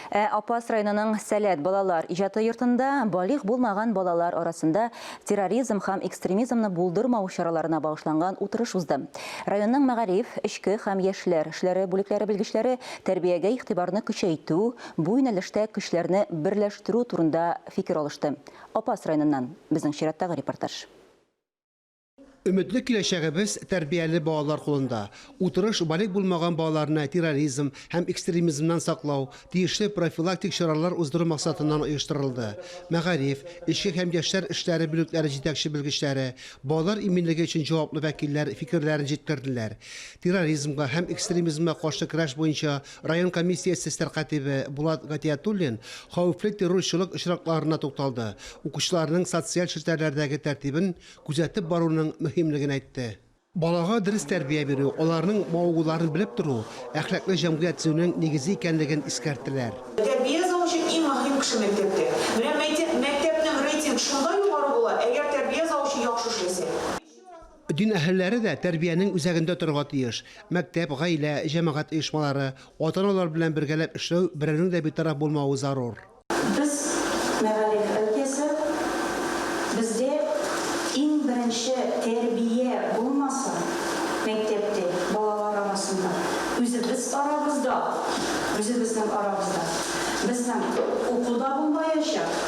Ә Апас районының Сәләт балалар иҗаты йортында балигъ булмаган балалар арасында терроризм һәм экстремизмны булдырмау чараларына багышланган утырыш узды. Районның мәгариф, эчке һәм яшьләр эшләре бүлекләре белгечләре тәрбиягә игътибарны көчәйтү, бу юнәлештә көчләрне берләштерү турында фикер алышты. Апас районыннан безнең чираттагы репортаж. Өметле киләчәгебез тәрбияле балалар кулында. Утырыш балигъ булмаган балаларны терроризм һәм экстремизмнан саклау, тиешле профилактик чаралар уздыру максатыннан оештырылды. Мәгариф, эчке һәм яшьләр эшләре бүлекләре җитәкче белгечләре, балалар иминлеге өчен җаваплы вәкилләр фикерләрен җиткерделәр. Терроризмга һәм экстремизмга каршы көрәш буенча район комиссиясе сәркатибе Булат Гатиятуллин хәвефле террорчылык очракларына тукталды, укучыларның социаль челтәрләрдәге тәртибен күзәтеп баруның мөһимлеген әйтте. Балага дөрес тәрбия бирү, аларның мавыгуларын белеп тору, әхлаклы җәмгыять төзүнең нигезе икәнлеген искәрттеләр. Тәрбия завучы иң мөһим кеше мәктәптә. Менә мәйтеп, мәктәпнең рейтинг шунда югары була, әгәр тәрбия завучы яхшы эшләсә. Дин әһелләре дә тәрбиянең үзәгендә торырга тиеш. Мәктәп, гаилә, җәмәгать оешмалары, ата-аналар белән бергәләп эшләү, берәүнең дә битараф булмавы зарур. Без, мәгариф өлкәсе, бездә иң беренче тәрбия булмасын мәктәптә, балалар арасында, үзебез арабызда, үзебезнең арабызда. Безнең уку да булмаячак,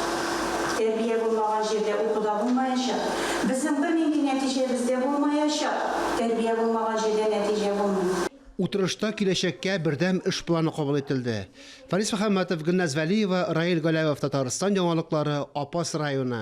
тәрбия булмаган җирдә уку да булмаячак. Безнең бернинди нәтиҗәбез дә булмаячак, тәрбия булмаган җирдә нәтиҗә булмый. Утырышта киләчәккә бердәм эш планы кабул ителде. Фарис Мөхәммәтов, Гөлназ Вәлиева, Раил Галәүов, Татарстан яңалыклары, Апас районы.